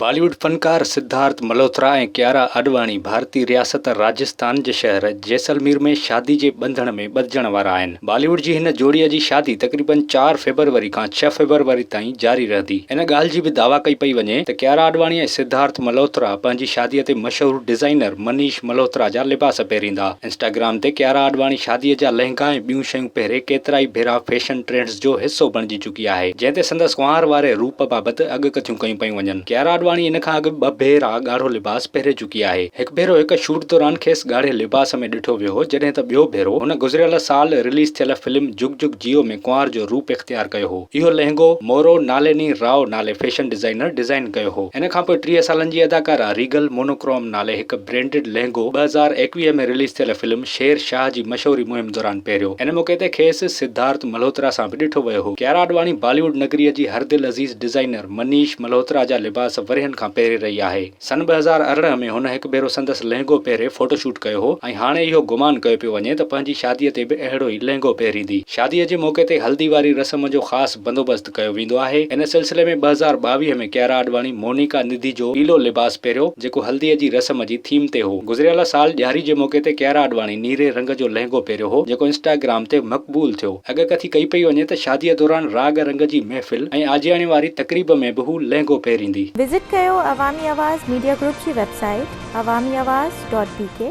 بالي wood فنڪار سڌارٿ ملهوترا ۽ ڪيارا آڏواڻي ڀارتي رياست راجسٿان جي شهر جيسلمير ۾ شادي جي ٻنڌڻ ۾ ٻڌجڻ وارا آهن. بالي ووڊ جي هن جوڙي جي شادي تقريبن چار فيبروري کان ڇهه فيبروري تائين جاري رهندي. ان ڳالهه جي به دعويٰ ڪئي پئي وڃي ته ڪيارا آڏواڻي ۽ سڌارٿ ملهوترا پنهنجي شادي تي مشهور ڊزائينر منيش ملهوترا جا لباس پهريندا. انسٽاگرام تي ڪيارا آڏواڻي شادي جا لهنگا ۽ ٻيون شيون پهري ڪيترائي ڀيرا فيشن ٽرينڊز جو حصو بڻجي چڪي چڪي آهي، جنهن تي سندس ڪنوار واري روپ بابت اڳ ڪٿيون ڪيون پيون وڃن. ڪيارا آڏواڻي ان کان اڳ ٻه ڀيرا ڳاڙهو لباس پهري چڪي آهي. هڪ ڀيرو هڪ شوٽ دوران کيس ڳاڙهي لباس ۾ ڏٺو ويو هو، جڏهن ته ٻيو ڀيرو هن گذريل سال رليز ٿيل فلم جگ جگ جيو ۾ ڪنوار جو روپ اختيار ڪيو هو. اهو لهنگو مورو ناليني راء نالي فيشن ڊزائنر ڊزائن ڪيو هو. ان کان پوء ٽيهه سالن جي اداڪارا ريگل مونوڪروم نالي هڪ برينڊڊ لهنگو ٻه هزار ايڪويهه ۾ رليز ٿيل فلم شير شاهه جي مشهوري مهم دوران پهريو ان موقعي تي کيس سڌارٿ ملهوترا سان به ڏٺو ويو هو. ڪيارا اڏواڻي باليووڊ نگريء جي هر دل عزيز ڊزائينر منيش ملهوترا جا لباس ورهين کان پهري رهي آهي. سن ٻه هزار ارڙهن ۾ هن هڪ ڀيرو سندس لهنگو پهري فوٽو شوٽ ڪيو هو ۽ هاڻي اهو گمان ڪيو پيو وڃي ته پنهنجي شاديء تي به اهڙو ئي لهنگو پهريندي. شاديء جي موقعي تي هلدي واري رسم جو خاص بندوبست. ڪيو ويندو آهي. ان سلسلي ۾ ٻه هزار ٻاويهه ۾ ڪيارا آڏواڻي مونيڪا نڌي جو پيلو لباس پهريو، جيڪو هلديء جي رسم جي ٿيم تي هو. گذريل سال ڏياري جي موقعي تي ڪيارا آڏواڻي نيري رنگ جو لهنگو پهريو هو، جيڪو انسٽاگرام تي مقبول ٿيو. اڳڪٿي ڪئي پئي وڃي ته شاديء دوران راڳ رنگ جي محفل ۽ آجياڻي واري تقريب ۾ به هو لهنگو پهريندي. وزٽ ڪيو عوامي آواز ميڊيا گروپ جي website Awami Awaz dot بي ڪي.